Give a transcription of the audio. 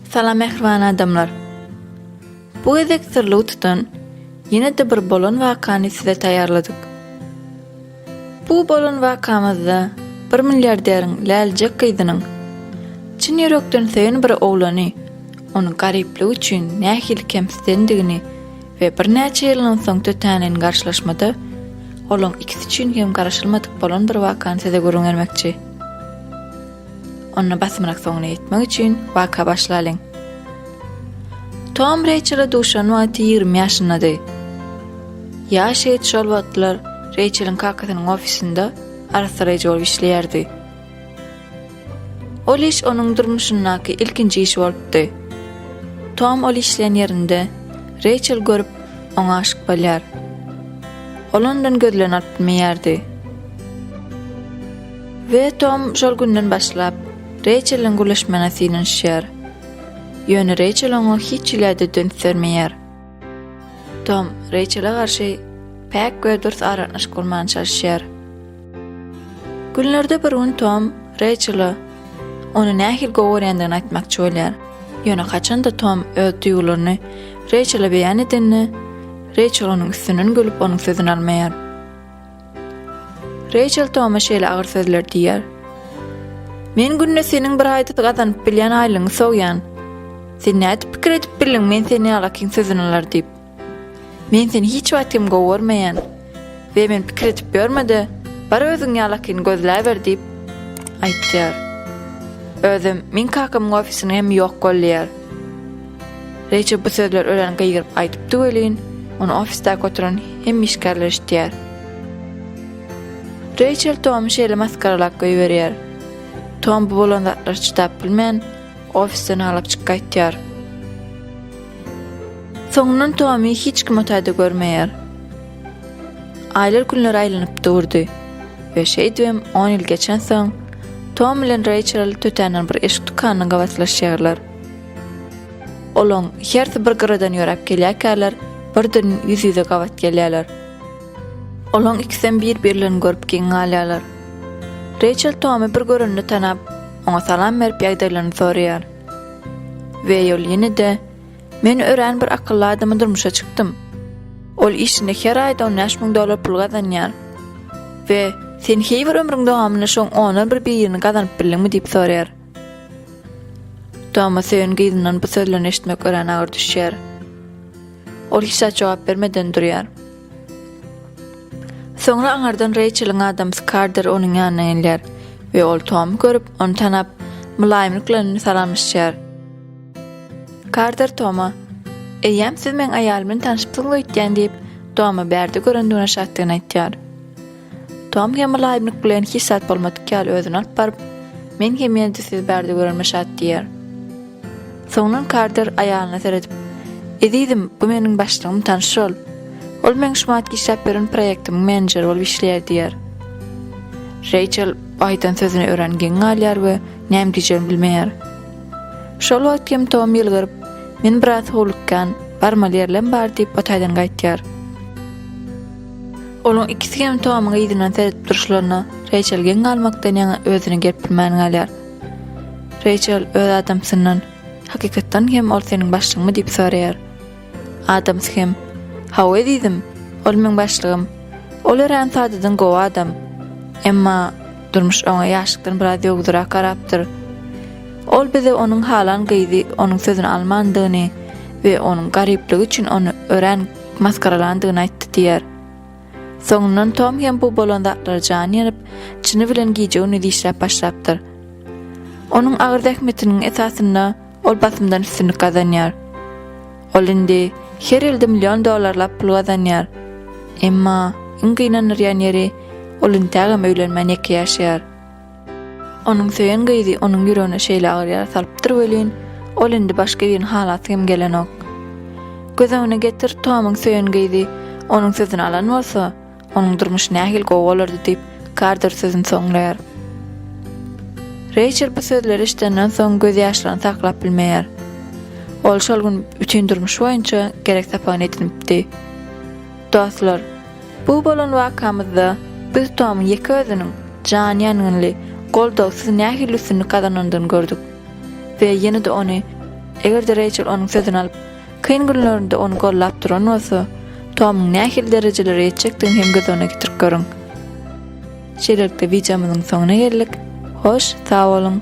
Salam mähriban adamlar. Bu gezek syrly utudan ýene-de bir bolan wakany size taýýarladyk. Bu bolan wakamyzda bir milliarderiň läljek gyzynyň çyn ýürekden söýen bir oglany onuň garyplygy üçin nähili kemsidendigini we birnäçe ýyldan soň tötänden garşylaşmada olaň ikisi üçin hem garaşylmadyk bolan bir wakany size gürrüň bermekçi. Onda basymrak soňuna ýetmek üçin waka başlalyň. Tom Reýçele duşan wagty ýigrimi ýaşyndady. Ýaş ýigit şol wagtlar Reýçeliň kakasynyň ofisinde arassalaýjy bolup işleýärdi. Ol iş onuň durmuşyndaky ilkinji iş bolupdy. Tom ol işleýän ýerinde Reýçel görüp, oňa aşyk bolýar. Ol ondan gözlerini alyp bilmeýärdi. We Tom şol günden başlap, Reýçeliň gürleşmegine synanyşýar. Ýöne Reýçel oňa hiç hile-de dönüp bermeýär. Tom Reýçele garşy päk we dürs aragatnaşyk gurmaga çalyşýar. Günlerde bir gün Tom Reýçele ony nähili gowy görýändigini aýtmakçy bolýar. Ýöne haçan-da Tom öz duýgularyny Reýçele beýan edende, Reýçel onuň üstünden gülüp onuň sözüni almaýar. Reýçel Toma şeýle agyr sözler diýýär. Men günde seniň bir aýda gazanyp bilýän aýlygyňy sowýan. Sen nädip pikir edip bildiň men seni ýalakyň sözüni alar diýip? Men seni hiç wagt hem gowy görmeýän. We men pikir edip ýörme-de, bar özüň ýalakyny gözläber diýip, aýtýar. Özem, meň kakamyň ofisiniň hem ýok gollaýar. Reçel bu sözleri örän gygyryp aýdypdy welin, ony ofisdäki oturan hemme işgärler eşidýär. Reçel Tomy şeýle masgaralap goýberýär. Tom bu bolan zatlary çydap bilmän, ofisden aglap çykyp gaýtýar. Soňundan Tomy hiç kim otayda görmeýär. Aýlar günlere aýlanyp durdy we şeýdibem on ýyl geçensoň, Tom bilen Reçel tötänden bir eşik dükanynyň gabaslaşýarlar. Olaň hersi bir gyradan ýöräp gelýärkäler, birden ýüz-ýüze gabat gelýärler. Olaň ikisem bir-birlerini görüp geň galýarlar. Reýçel Tomy bir görende tanap, oňa salam berip ýagdaýlaryny soraýar. Weýol ýene-de, Men örän bir akylly adama durmuşa çykdym. Ol işinde her aýda on bäş müň dollar pul gazanýar. We sen heý bir ömrüň dowamynda şoň ondan bir birini gazanyp bildiňmi diýip soraýar. Toma söýen gyzyndan bu sözlerini eşitmek örän agyr düşýär. Ol hiç zat jogap bermeden durýar. Soňra aňardan Reýçeliň adamsy Karder onuň ýanyna gelýär we ol Tomy görüp, ony tanap, mylaýymlyk bilen salamlaşýar. Karder Toma, Eýýäm siz meň aýalym bilen tanyşypsyňyz öýtýän diýip, Tomy bärde görendigine şatdygyny aýtýar. Tom hem mylaýymlyk bilen hiç zat bolmadyk ýaly özüni alyp baryp, Men hem ýene-de sizi bärde görenimme şat diýýär. Soňundan Karter aýalyna seredip, Ezizim, bu meniň başlygym tanyş bol. Ol meň şumatky işläp ýören proýektimiň menejeri bolup işleýär diýýär. Reýçel bu aýdan sözüne örän geň galýar we näme diýjegini bilmeýär. Şol wagt hem Tom ýylgyryp, Men biraz howlukýan, barmaly ýerlem bar diýip o taýdan gaýtýar. Olaň ikisi hem Tomuň yzyndan seredip duruşlaryna Reýçel geň galmakdan ýaňa özüni gerip bilmän galýar. Reýçel öz adamsyndan, Hakykatdan hem ol seniň başlygyňmy diýip soraýar. Adamsy hem, Hawa ezizim, ol meň başlygym. Ol örän sadadan gowy adam. Emma durmuş oňa ýaşlykdan biraz ýowudyrak garapdyr. Ol bize onuň halan gyzy onuň sözüni almandygyny we onuň garyplygy üçin ony örän maskaralandygyny aýtdy diýer. Soňundan Tom hem bu bolan zatlara jany ýanyp, çyny bilen gije-gündiz işläp başlapdyr. Onuň agyr zähmetiniň esasynda ol basymdan üstünlik gazanýar. Ol indi her ýylda million dollarlap pul gazanýar. Emma iň gynandyrýan ýeri, ol intägem öýlenmän ýeke ýaşaýar. Onuň söýen gyzy onuň ýüregine şeýle agyr ýara salypdyr welin, ol indi başga birini halasy hem gelenok. Göz öňüne getir, Tomyň söýen gyzy onuň sözüni alan bolsa, onuň durmuşy nähili gowy bolardy diýip, Karter sözüni soňlaýar. Reýçel bu sözleri eşidenden soň gözýaşlaryny saklap bilmeýär. Ol şol gün bütin durmuşy boýunça gerek sapagyny edinipdi. Dostlar, bu bolan wakamyzda biz Tomyň ýeke özüniň jan ýangynly, goldawsyz nähili üstünlik gazanandygyny gördük. We ýene-de ony, eger-de Reýçel onuň sözüni alyp, kyn günlerinde ony gollap duran bolsa, Tomyň nähili derejelere ýetjekdigini hem göz öňüne getirip görüň. Şeýlelikde wideomyzyň soňuna geldik. Hoş, sag boluň!